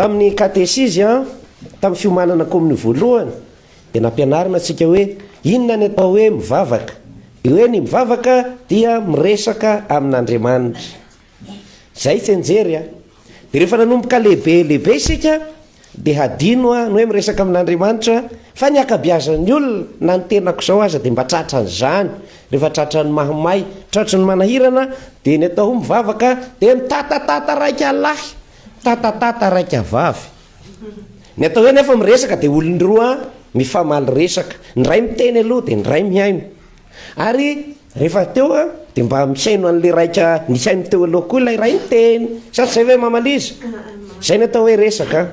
Tamin'ny katesizy, tamin'ny fiomanana kominio voalohany, dia nampianarina antsika hoe inona ny atao hoe mivavaka. Dia hoe ny mivavaka dia miresaka amin'Andriamanitra. Izay tsianjery a! Dia rehefa nanomboka lehibe lehibe isika, Dia hadino aho ny hoe miresaka amin'Andriamanitra fa ny ankabiazan'ny olona na ny tenako izao aza dia mba tratran'izany rehefa tratran'ny mahamay, tratry ny manahirana dia ny atao mivavaka dia mitatatata raika lahy, mitatatata raika vavy. Ny atao hoe anefa miresaka dia olon-droa mifamaly resaka, ny iray miteny aloha dia ny iray mihaino. Ary rehefa teo a, dia mba misaino an'ilay raika nisaino teo aloha koa ilay iray niteny, sa tsy izay ve Mama Liza? Izay ny atao hoe resaka an!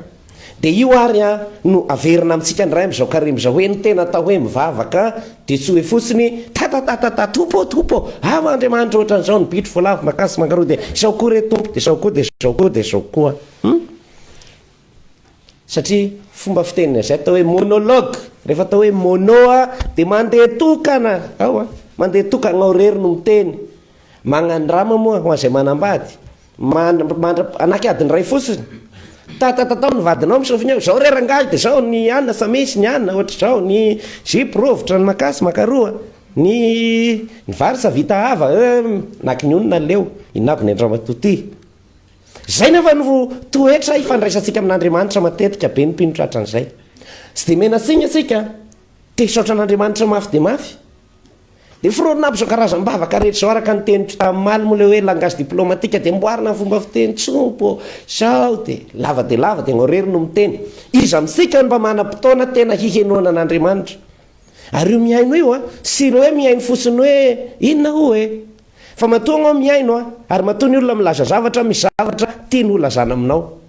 Dia io ary an, no averina amintsika indray amin'izao karemy izao hoe ny tena atao hoe mivavaka dia tsy hoe fotsiny tatatatatata Tompo ô Tompo ô, aho Andriamanitra ohatran'izao ny bitro, voalavo, makasy, mangaroa dia izao koa re Tompo, dia izao koa, dia izao koa, dia izao koa. Hum? Satria fomba fiteny, izay atao hoe monologue, rehefa atao hoe mono a dia mandeha tokana ao a, mandeha tokana ao irery no miteny, magnandrama moa ho an'izay manambady, mandra- mandra- manaky adiny iray fotsiny, tatatatao ny vadinao misôfy ny eo, izao re rangahy dia izao ny anona efa misy ny anona ohatr'izao, ny zipo rovitra, ny makasy maka roa, ny ny vary efa vita hava, eh, manaky ny onona ny leo, inona aby ny an-dramatoa ty? Izay nefa no toetra ifandraisantsika amin'Andriamanitra matetika be ny mpino tratran'izay. Tsy dia menatsiny antsika, te hisaotra an'Andriamanitra mafy dia mafy. Dia foronina aby izao karazam-bavaka rehetra izao araka ny teny malmo le hoe langage diplomatique dia amboarina ny fomba fiteny tsompo sao dia lava dia lava dia irery no miteny. Iza amintsika no mba manam-potoana tena hihenoana an'Andriamanitra? Ary io mihaino io an, sy ireo hoe mihaino fotsiny hoe inona hoy e? Fa matoa ianao mihaino an, ary matoa ny olona milaza zavatra an, misy zavatra tiany holazana aminao.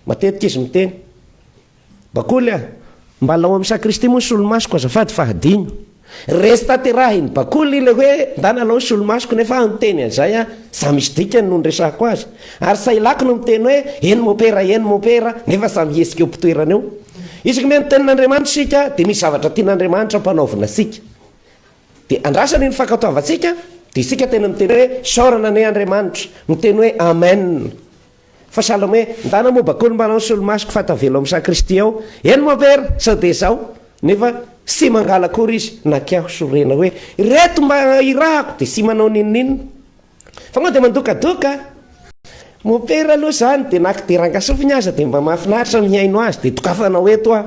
Matetika izy miteny, Bakoly an, mba lao amin'ny sac Kristy moa ny solomasoko azafady fa hadino. Resy tanterahiny Bakoly ilay hoe ndana lao ny solomasoko nefa aho niteny an'izay an, samy misy dikany no niresahako azy. Ary Sailako no miteny hoe eny mopera, eny mopera, nefa samy hihetsika eo am-pitoerany eo. Isaky mihaino ny tenin'Andriamanitra isika dia misy zavatra tian'Andriamanitra ampanaovina antsika. Dia andrasana iny fankatoavantsika, dia isika tena miteny hoe, Isaorana anie Andriamanitra, miteny hoe, Amen. Fa sahala amin'ny hoe, ndana moa bakony mba hanao ny solomasoko fa tavela ao amin'ny san'i Kristy ao. Eny moa ve ary, sao dia izao? Nefa tsy mangala akory izy, na kiaho sorena hoe, Ireto mba irahako, dia tsy manao n'inon'inona. Fa moa dia mandokadoka a! Mopera aloha izany dia na kidera angasofiny aza dia mba mahafinaritra mihaino azy dia dokafanao eto a!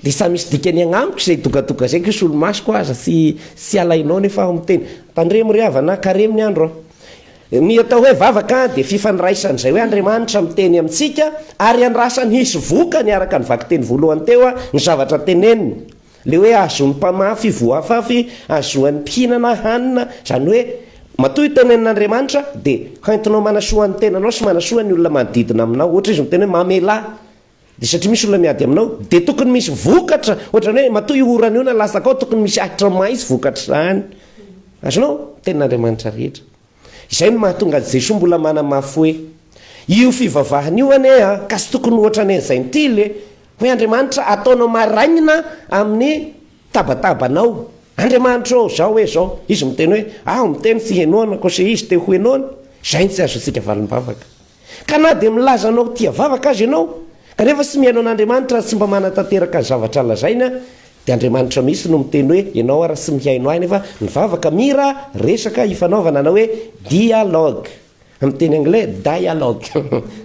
Dia samy misy dikany agnamiko izay dokadoka izay ko solomasoko aza tsy tsy alainao nefa aho miteny. Tandremo ry havana, karemy ny andro a! Ny atao hoe vavaka dia fifandraisana izay hoe Andriamanitra miteny amintsika ary andrasany hisy vokany araka ny vakiteny voalohany teo a! ny zavatra teneniny. Le hoe azon'ny mpamafy voafafy azoan'ny mpihinana hanina, zany hoe matoa io tenenin' Andriamanitra dia hoentinao manasoa ny tenanao sy manasoa ny olona manodidina aminao, ohatra izy miteny hoe mamelà dia satria misy olona miady aminao dia tokony misy vokatra, ohatrany hoe matoa io orana io na latsaka ao tokony misy ahitra maitso vokatr'izany, azonao? Tenin'Andriamanitra rehetra. Izay no mahatonga an'i Jesoa mbola manamafy hoe, Io fivavahana io anie ka tsy tokony ho ohatrany an'ny Zentily e! Hoy Andriamanitra, Ataonao marainina amin'ny tabatabanao. Andriamanitra ô, izao hoe izao, Izy miteny hoe, Aho miteny tsy henoana, kosa Izy te ho henoana. Izay no tsy azontsika valim-bavaka. Ka na dia milaza anao tia vavaka aza ianao, kanefa tsy mihaino an'Andriamanitra ary tsy mba manatanteraka ny zavatra lazainy, dia Andriamanitra mihitsy no miteny hoe, ianao ary tsy mihaino ahy, nefa nivavaka, mira, resaka ifanaovana, na hoe dialogue, amin'ny teny anglais, dialogue,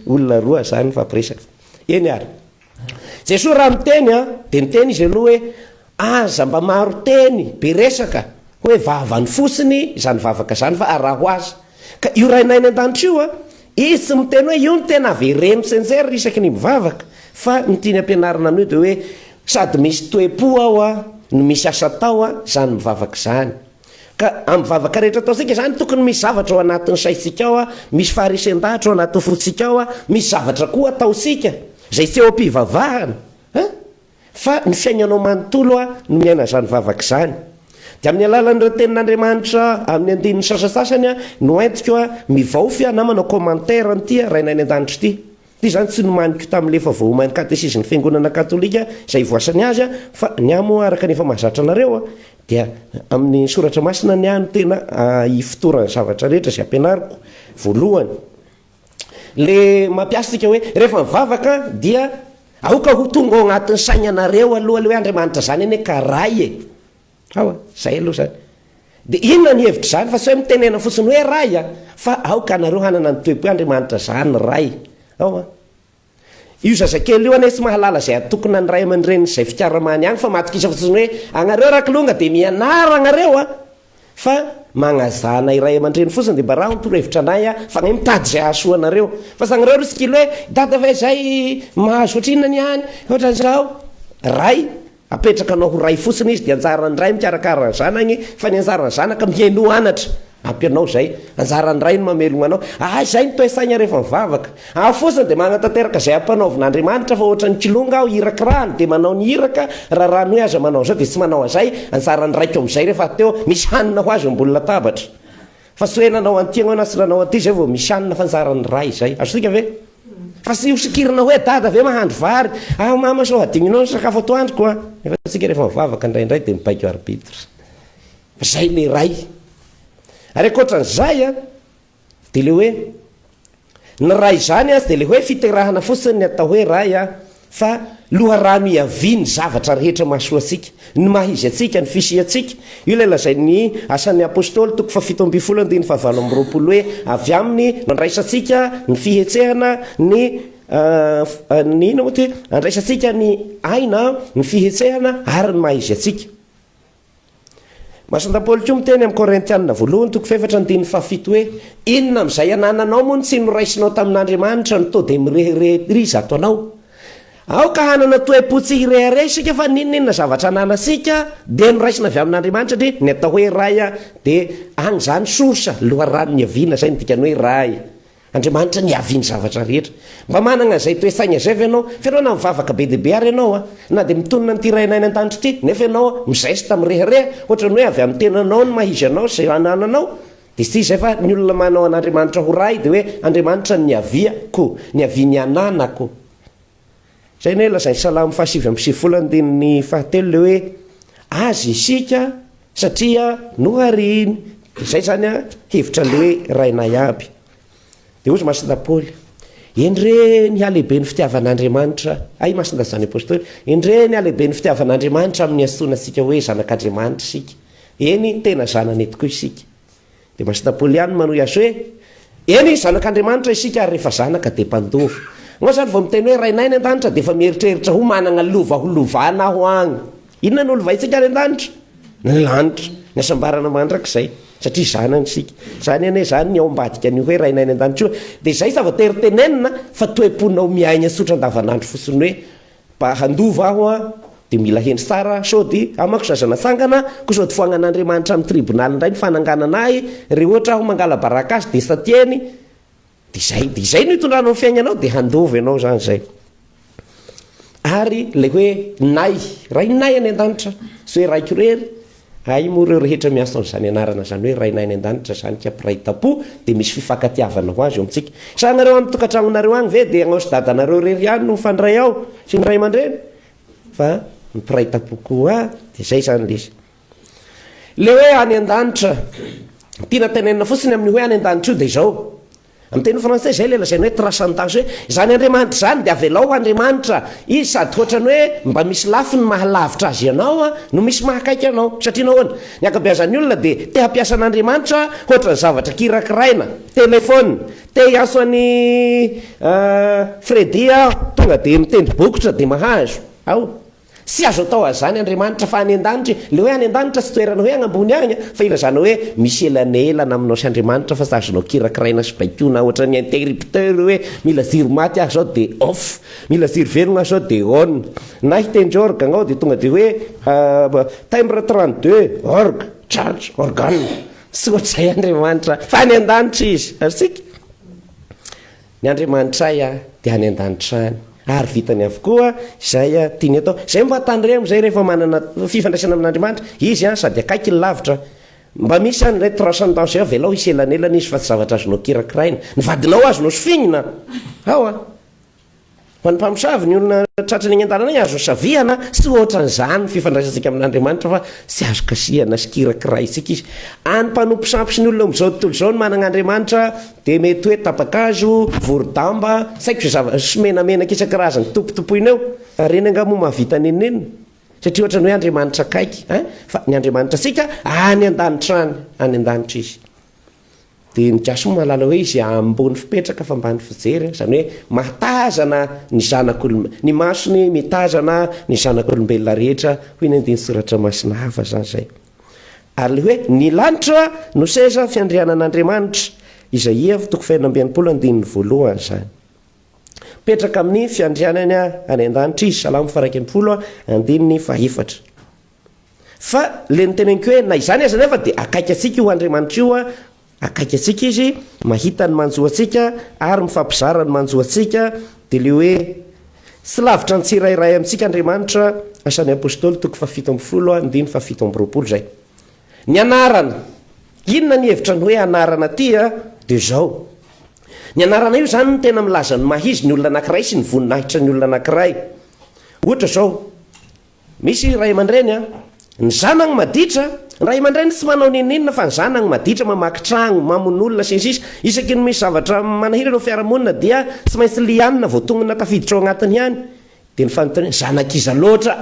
olona roa izany mifampiresaka. Eny ary. Jesoa raha miteny an, dia niteny Izy aloha hoe, aza mba maro teny, be resaka, hoe vavany fotsiny izany vavaka izany fa araho azy. Ka io Rainay any an-danitra io an, Izy tsy miteny hoe io no tena avereno sy enjeriny isaky ny mivavaka, fa ny tiany ampianarina anio dia hoe sady misy toe-po ao an, no misy asa atao an, izany mivavaka izany. Ka amin'ny vavaka rehetra ataontsika izany, tokony misy zavatra ao anatin'ny saintsika ao, misy faharesen-dahatra ao anatin'ny fontsika ao, misy zavatra koa ataontsika izay tsy eo am-pivavahana an! fa ny fiainanao manontolo no miaina izany vavaka izany. Dia amin'ny alalan'ireo tenin'Andriamanitra amin'ny andininy sasantsasany no entiko mivaofy namana commentaire an'ity Rainay any an-danitra ity. Koa izany tsy nomaniko tamin'ilay efa voaoman'ny katesizin'ny Fiangonana Katolika izay hivoasany azy aho, fa ny ahy moa araka ny efa mahazatra anareo dia amin'ny Soratra Masina ny ahy no tena ifotoran'ny zavatra rehetra izay ampianariko voalohany. Ilay mampiasa antsika hoe rehefa mivavaka dia aoka ho tonga ao anatin'ny sainanareo aloha ilay hoe Andriamanitra izany anie ka Ray e! Aowa, zay aloha zany. Dia inona ny hevitr'izany fa sao mitenena fotsiny hoe Ray a! Fa aoka anareo hanana ny toe-po Andriamanitra zany Ray. Aowa. Io zazakely io anie tsy mahalala izay atokona ny ray aman-dreniny izay fikaramany any fa matokisa fotsiny hoe anareo rakilonga dia mianara anareo a! Fa magnazana iray aman-dreny fotsiny dia mba raho ny torohevitra anay a! Fa ange mitady izay hahasoa anareo. Fa zanareo aloha tsy kilo hoe dada fa izay mahazo ohatrinona ny any, ohatran'izao. Ray. Apetraka anao ho ray fotsiny izy dia anjaran'ny ray mikarakara ny zanany fa ny anjaran'ny zanaka mihainoa anatra ampy anao izay. Anjaran'ny ray ny mamelogna anao. Ahy izay ny toe-tsaigna rehefa mivavaka. Aho fotsiny dia magnatanteraka izay ampanaovin'Andriamanitra fa ohatran'ny kilonga aho hirakirahany dia manao ny iraka raha raha ny hoe aza manao izao dia tsy manao an'izay. Anjaran'ny raiko amin'izay rehefa teo misy hanina ho azy eo ambony latabatra. Fa tsy hoe nanao an'ity ianao na tsy nanao an'ity izay vao misy hanina fa anjaran'ny ray izay. Azo tohina ve? Fa tsy hosokirina hoe dada ve mahandro vary ah mama sao hadinonao ny sakafo atoandroko ah nefa tsika rehefa mivavaka indraindray dia mibaiko arbitre fa zay le ray ary ankoatran'izay a dia le hoe ny ray izany azy dia le hoe fiterahana fotsiny ny atao hoe ray a Fa loharano hiavian'ny zavatra rehetra mahasoa antsika, ny maha izy antsika, ny fisiantsika. Io ilay lazain'ny Asan'ny Apostoly, toko fahafito ambin'ny folo, andininy fahavalo amby roapolo, hoe, Avy aminy no andraisantsika ny fihetsehana, ny, ny inona moa ity? Andraisantsika ny aina, ny fihetsehana ary ny maha izy antsika. Masonta Paoly koa miteny amin'ny Korintiana voalohany toko fahefatra andininy fahafito hoe, Inona amin'izay anananao moa no tsy noraisinao tamin'Andriamanitra no to dia mirehareha-priza ato anao? Aoka hanana toe-po tsy hirehareha isika fa n'inon'inona zavatra ananantsika dia noraisina avy amin'Andriamanitra satria ny atao hoe Ray dia any izany source, loharano niaviana, izay no dikany hoe Ray. Andriamanitra niavian'ny zavatra rehetra. Mba manana izay toe saina izay ve ianao? Fa ianao na mivavaka be dia be ary ianao a! Na dia mitonona amin'ity Rainay any an-danitra ity, nefa ianao mizesta mirehareha ohatran'ny hoe avy amin'ny tenanao ny maha izy anao izay anananao. Dia tsy izay fa ny olona manao an'Andriamanitra ho Ray dia hoe Andriamanitra no niavia ko, niavian'ny ananako. Izay anie lazain'ny Salamo fahasivy amby sivifolo andininy fahatelo ilay hoe Azy isika satria nohariany, dia izay izany an, hevitra ilay hoe Rainay aby. Dia hoy Masina Paoly, Endre ny halehiben'ny fitiavan'Andriamanitra, hay i Masina izany Apostoly, Endre ny halehiben'ny fitiavan'Andriamanitra amin'ny antsoina antsika hoe zanak'Andriamanitra isika, eny, tena zanany tokoa isika. Dia Pasita Polian manohy azy hoe, Eny, zanak'Andriamanitra isika ary rehefa zanaka dia mpandova. Ianao izany vao miteny hoe Rainay any an-danitra dia efa mieritreritra ho manana lova holovana aho agny. Inona no lovaintsika any an-danitra? Ny lanitra, ny hasambarana mandrakizay, satria zanany isika. Izany anie izany ny ao ambadika an'io hoe Rainay any an-danitra io. Dia izay zava-tery tenenina fa toe-ponao miaigna tsotra andavanandro fotsiny hoe, Mba handova aho an dia mila hendry tsara sao dia amako zaza natsangana koa sao dia foagnan'Andriamanitra amin'ny tribonaly indray ny fananganana ahy, re ohatra aho mangalabaraka azy dia sa tiany dia izay dia izay no hitondranao ny fiaignanao dia handova ianao zany zay ary ilay hoe nay, rainay any an-danitra sy hoe raiko rery Hay moa ireo rehetra miasa amin'izany anarana izany hoe Rainay any An-danitra izany ka mpiray tampo dia misy fifankatiavana ho azy eo amintsika. Sa ianareo any tokantragnonareo agny ve dia agnao sy dadanareo irery ihany no mifandray ao sy ny ray aman-dreny? Fa ny mpiray tampo koa dia izay izany ilay izy. Ilay hoe any An-danitra, tiana tenenina fotsiny amin'io hoe any An-danitra io dia izao, Amin'ny teny frantsay izay ilay lazaina hoe transcendence hoe izany Andriamanitra izany dia avelao ho Andriamanitra Izy sady hoatran'ny hoe mba misy lafiny maha lavitra Azy ianao no misy maha akaiky anao. Satria nahoana? Ny ankabeazan'ny olona dia te hampiasa an'Andriamanitra hoatran'ny zavatra kirakiraina. Telefaonina. Te hiantso an'i Freddy aho, tonga dia mitendry bokotra dia mahazo. Aoa. Tsy azo atao azany Andriamanitra fa any an-danitra e, le hoe any an-danitra tsy toerana hoe agnambony agny a, fa ilazana hoe misy elanelana aminao sy Andriamanitra fa tsy azonao kirakiraina sy baikoina ohatran'ny interrupteur io hoe mila jiro maty aho zao de off, mila jiro velogna aho zao de on, na hitendry orgue agnao de tonga de hoe timbre trente deux orgue charge organe, tsy ohatr'izay Andriamanitra fa any an-danitra izy, azontsika? Ny Andriamanitray dia any an-danitra any, ary vitany avokoa izay tiany atao. Izay mba tandremo izay rehefa manana fifandraisana amin'Andriamanitra izy sady akaiky ny lavitra. Mba misy any ilay transcendance eo, avelao hisy elanelana izy fa tsy zavatra azonao kirakiraina. Ny vadinao azonao sofinina ao a! Ho an'ny mpamosavy, ny olona tratry ny haingan-dalana azo hosaviana sy hoatran'izany ny fifandraisantsika amin'Andriamanitra fa tsy azo kasihana sy kirakiraintsika Izy. Any mpanompo sampy sy ny olona amin'izao tontolo izao ny manana Andriamanitra dia mety hoe tapa-kazo, vorodamba, tsy haiko izay zava, sy menamenaka isan-karazany tompotompoina eo. Fa ireny angaha moa mahavita nenenina? Satria ohatran'ny hoe Andriamanitra akaiky, hein? Fa ny Andriamanitra antsika any an-danitra any, any an-danitra Izy. Dia ny gasy moa mahalala hoe izay ambony fipetraka fa ambany fijery an, izany hoe mahatazana ny zanak'olom-, ny masony mitazana ny zanak'olombelona rehetra hoy ny andinin-tsoratra masina hafa izany izay. Ary ilay hoe ny lanitra no seza fiandrianan'Andriamanitra izay Ev toko fahenina amby enimpolo andininy voalohany izany. Mipetraka amin'ny fiandrianany any an-danitra izy, Salamo faha iraika ambin'ny folo andininy faha efatra. Fa ilay noteneniko hoe na izany aza anefa dia akaiky antsika io Andriamanitra io, akaiky antsika Izy, mahita ny manjo antsika ary mifampizara ny manjo antsika, dia ilay hoe tsy lavitra ny tsirairay amintsika Andriamanitra, Asan'ny Apostoly toko fahafito ambin'ny folo andininy fahafito amby roapolo izay. Ny anarana, inona ny hevitra ny hoe anarana aty a? Dia izao, ny anarana io izany no tena milaza ny maha izy ny olona anankiray sy ny voninahitra ny olona anankiray. Ohatra izao, Misy ray aman-dreny an! Ny zanany maditra, ny ray aman-dreny tsy manao n'inon'inona fa ny zanany maditra, mamaky tragno, mamon' olona, sy ny sisa Isaky ny misy zavatra manahirana eo fiarahamonina dia tsy maintsy lianina vao tonina tafiditra ao anatiny ihany Dia ny fanontaniana, zanak'iza loatra?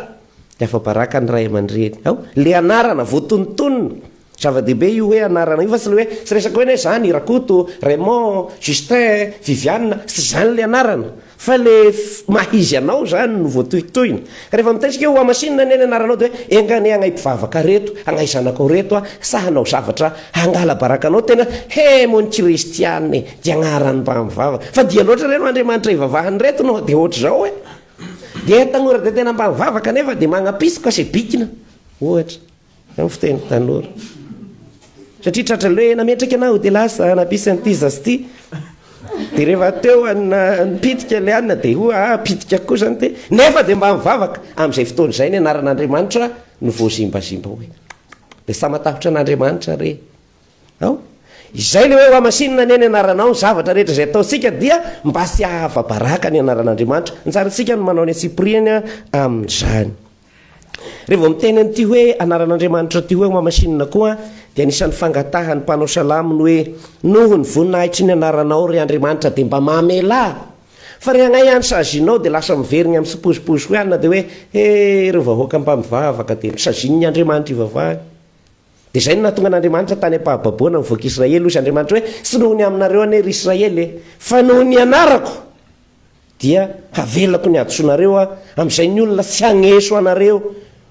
Dia afa-baraka ny ray aman-dreny, ao, le anarana, voatonontonona, Zava-dehibe io hoe anarana io fa tsy le hoe tsy resaka hoe ne zany Rakoto, Raymond, Justin, Viviane, tsy izany ilay anarana fa le maha izy anao zany no voatohitohina. Ka rehefa mitaitsika hoe hohamasinina anie ny anaranao dia hoe enga anie hagnahy mpivavaka reto, hagnahy zanakao reto a, sa hanao zavatra hangala baraka anao tena he moa ny kristiana e, dia agnaran'ny mba mivavaka, fa dia loatra re no Andriamanitra hivavahan'ireto no dia ohatr'izao e, dia tanora dia tena mba mivavaka nefa dia magnam-pitsy ka sebikina ohatra. Izay no fiteny tanora. Satria tratra le nametraka anao dia lasa hanabisa an'ity zaza ity. Dia rehefa teo anna nipitika ilay anna dia ho'a ah, pitika koa izany dia nefa dia mba mivavaka amin'izay fotoana izay ny anaran'Andriamanitra no voazimbazimba hoe dia sa matahotra an'Andriamanitra re ao? Izay le hoe ho hamasinina anie ny anaranao ny zavatra rehetra izay ataontsika dia mba tsy hahava-baraka ny anaran'Andriamanitra. Ny tsarantsika no manao ny antsipiriany amin'izany. Re vao miteny an'ity hoe anaran'Andriamanitra ity hoe mamasinina koa dia anisan'ny fangatahan'ny mpanao salamo ny hoe noho ny voninahitry ny anaranao ry Andriamanitra dia mba mamelà fa re agnay any sazinao dia lasa miverigny amin'ny sipozipozy hoianina dia hoe he ireo vahoaka mpamivavaka dia nosazinin'ny Andriamanitra ivavahany dia izay no nahatonga an'Andriamanitra tany am-pahababoana ny vahoak'Israely hoy izy Andriamanitra hoe tsy noho ny aminareo anie ry Israely e fa noho ny anarako dia havelako ny hadisoanareo aho, amin'izay ny olona tsy hagneso anareo,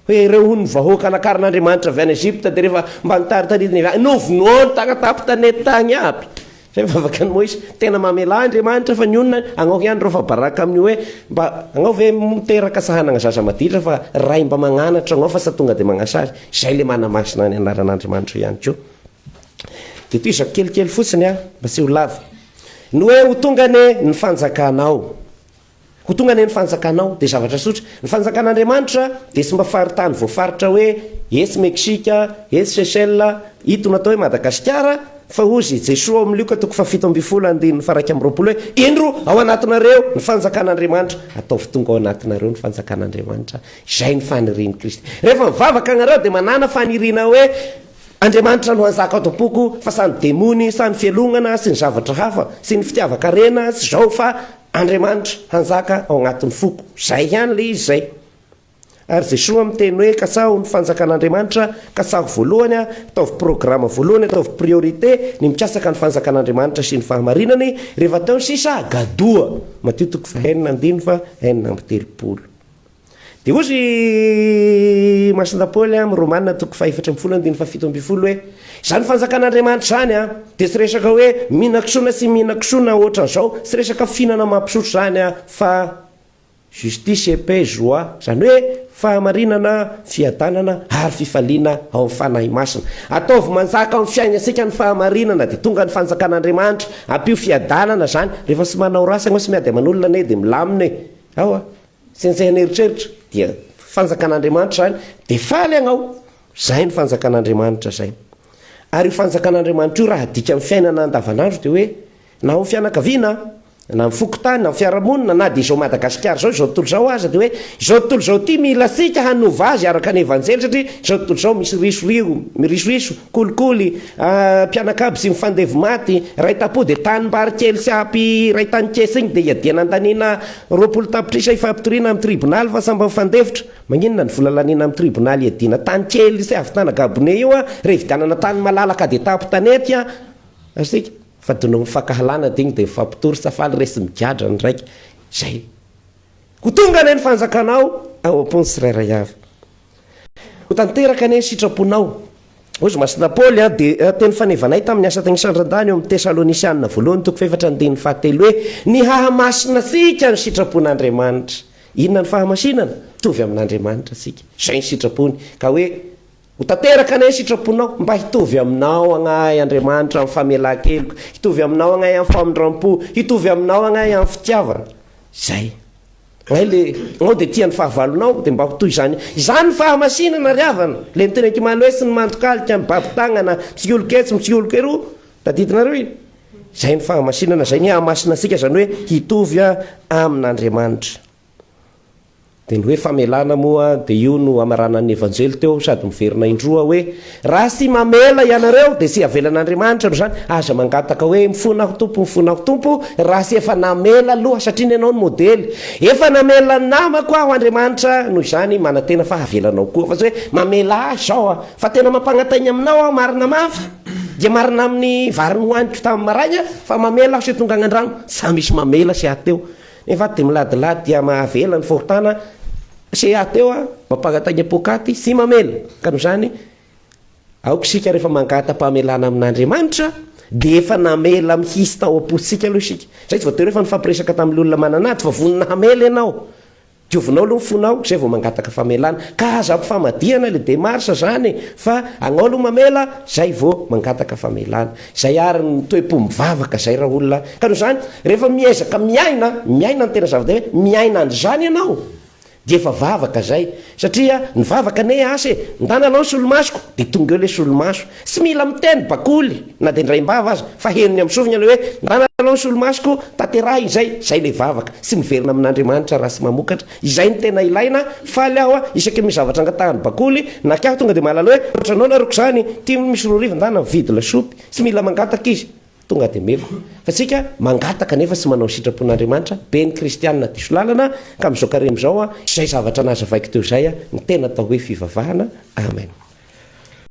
hoe ireo hono ny vahoaka nakarin'Andriamanitra avy any Egypta, dia rehefa mba nitaritaritany avy any, novonoany tagna tapo tanety tagny aby, izay ny vavaka an'i Moizy, tena mamelà Andriamanitra fa ny onona hagnaoka ihany reo, fa baraka amin'io hoe mba hagnao ve miteraka sa hanagna zaza maditra, fa ray mba magnanatra agnao fa sa tonga dia magnasa azy, izay le manamasina ny anaran'Andriamanitra ihany koa, dia tohizako kelikely fotsiny an, mba tsy ho lava. Ny hoe ho tonga anie ny fanjakanao. Ho tonga anie ny fanjakanao dia zavatra tsotra. Ny fanjakan'Andriamanitra dia tsy mba faritany voafaritra hoe etsy Meksika, etsy Seychelles, ito natao hoe Madagasikara, fa hozy i Jesoa ao amin'ny Lioka toko fahafito ambin'ny folo andininy faharaika amby roapolo hoe, Indro ao anatinareo ny fanjakan'Andriamanitra, ataovy tonga ao anatinareo ny fanjakan'Andriamanitra. Izay ny fanirian'i Kristy. Rehefa mivavaka ianareo dia manàna faniriana hoe Andriamanitra no hanjaka ato am-poko fa sa ny demony sa ny fialonana sy ny zavatra hafa sy ny fitiavan-karena sy zao fa Andriamanitra hanjaka ao anatin'ny foko zay ihany le izy zay ary Jesoa miteny hoe katsaho ny fanjakan'Andriamanitra katsaho voalohany ataovy programa voalohany ataovy priorité ny mikasaka ny fanjakan'Andriamanitra sy ny fahamarinany rehefa teo sisa gadoa Matio toko fahenina ambin'ny fa enina amby telopolo Dia hoy ry Masina Paoly amin'ny Romana toko fahefatra ambin'ny folo andininy fahafito ambin'ny folo hoe, Izany fanjakan'Andriamanitra izany an, dia tsy resaka hoe mihinan-kisoa na tsy mihinan-kisoa na ohatran'izao, tsy resaka fihinana mampisotro izany an, fa justice et paix, joie, izany hoe fahamarinana, fiadanana ary fifaliana ao amin'ny Fanahy Masina. Ataovy manjaka amin'ny fiainantsika ny fahamarinana dia tonga ny fanjakan'Andriamanitra, ampio fiadanana izany, rehefa tsy manao ratsy ianao, tsy miady aman'olona anie dia milamina e! Ao a! Zay zay an'eritreritra dia fanjakan'Andriamanitra zany dia faly agnao, zay ny fanjakan'Andriamanitra zay. Ary io fanjakan'Andriamanitra io raha adika amin'ny fiainana andavanandro dia hoe na ao amin'ny fianakaviana an, na amin'ny fokontany, na amin'ny fiarahamonina, na dia izao Madagasikara izao, izao tontolo izao aza dia hoe izao tontolo izao ity mila antsika hanova azy araka ny evanjely satria izao tontolo izao misy risoriho, mirisoriso, kolikoly, A, mpianakavy sy ny fandevo maty, iray tapo dia tanimbary kely sy ampy iray tany kesa iny dia iadiana andaniana roapolo tapitrisa ifampitoriana amin'ny tribonaly fa sambany fandevotra, maninona ny vola laniana amin'ny tribonaly iadiana tany kely sy havitana gabone io a, raha ividianana tany malalaka dia tapo tanety a, asika fa donovin'ny fankahalana dia iny dia mifampitory sa faly re sy migadra ny raika, izay, ho tonga anie ny fanjakana ao, ao am-pony tsirairay avy. Ho tanteraka anie ny sitraponao, hoy izy. Masina Paoly an, dia teny fanevanay tamin'ny asa tany Isandran-dany ao amin'ny Tesalônisianina voalohany toko fahefatra andininy fahatelo hoe, Ny hahamasina antsika ny sitrapon'Andriamanitra. Inona ny fahamasinana? Mitovy amin'Andriamanitra antsika. Izay ny sitrapony. Ka hoe, Ho tanteraka anie ny sitraponao, mba hitovy aminao agnay Andriamanitra amin'ny famelan-keloka, hitovy aminao agnay amin'ny famindram-po, hitovy aminao agnay amin'ny fitiavana. Izay. Hay le anao dia tia ny fahavalonao dia mba ho toy izany izany ny fahamasinana ry havana, le miteny an kimaloe sy ny mandok'alika mibaby tagnana mitsioloko etsy mitsioloko eroa tadidinareo iny? zay ny fahamasinana zay ny hahamasina antsika zany hoe hitovy amin'Andriamanitra dia ny hoe famelana moa dia io no hamaranan'ny evanjely teo sady miverina indroa hoe Raha tsy mamela ianareo dia tsy havelan'Andriamanitra aloha izany, aza mangataka hoe mifona aho Tompo, mifona aho Tompo raha tsy efa namela aloha satria ny anao no modely. Efa namela ny namako aho Andriamanitra, noho izany manantena fa havela anao koa, fa tsy hoe mamela ahy izao aho, fa tena mampangatahina aminao aho marina mafy, dia marina amin'ny vary nohaniko tamin'ny maraina fa mamela aho sy ho tonga an-drano, tsy misy mamela sy hahateo. Nefa dia miladilady dia mahavela ny fahotana se aty eo a, mampangataiga poakaty sy mamela. Ka noho izany, aoka isika rehefa mangata-pamelana amin'Andriamanitra dia efa namela mihitsy tao am-pontsika aloha isika. Izay tsy voatery hoe efa nifampiresaka tamin'ilay olona manana ady fa vonona hamela ianao. Diovinao aloha ny fonao izay vao mangataka famelana. Ka aza ampifamadihana ilay demarche izany e! Fa anao aloha mamela izay vao mangataka famelana. Zay ary ny toe-po mivavaka zay ra olona ka noho izany rehefa miezaka miaina miaina ny tena zava-dehibe miaina an'izany ianao dia efa vavaka zay satria ny vavaka anie asa e! ndana alao ny solomasoko dia tonga eo le solomaso tsy mila miteny bakoly na dia indraim-bava aza fa henony amin'ny sofiny ilay hoe ndana alao ny solomasoko tanterahina izay zay le vavaka tsy miverina amin'Andriamanitra raha tsy mamokatra Izay no tena ilaina, faly aho isaky ny misy zavatra angatahan'ny bakoly, na kay aho tonga dia mahalala hoe otranao nareo ko zany, tim misy roa arivo ndana mividy lasopy, tsy mila mangataka izy, tonga dia meko, fa tsika mangataka nefa tsy manao ny sitrapon'Andriamanitra, be ny kristiana diso lalana, ka amin'izao karemy izao, izay zavatra nazavaiko teo izay no tena atao hoe fivavahana, amen.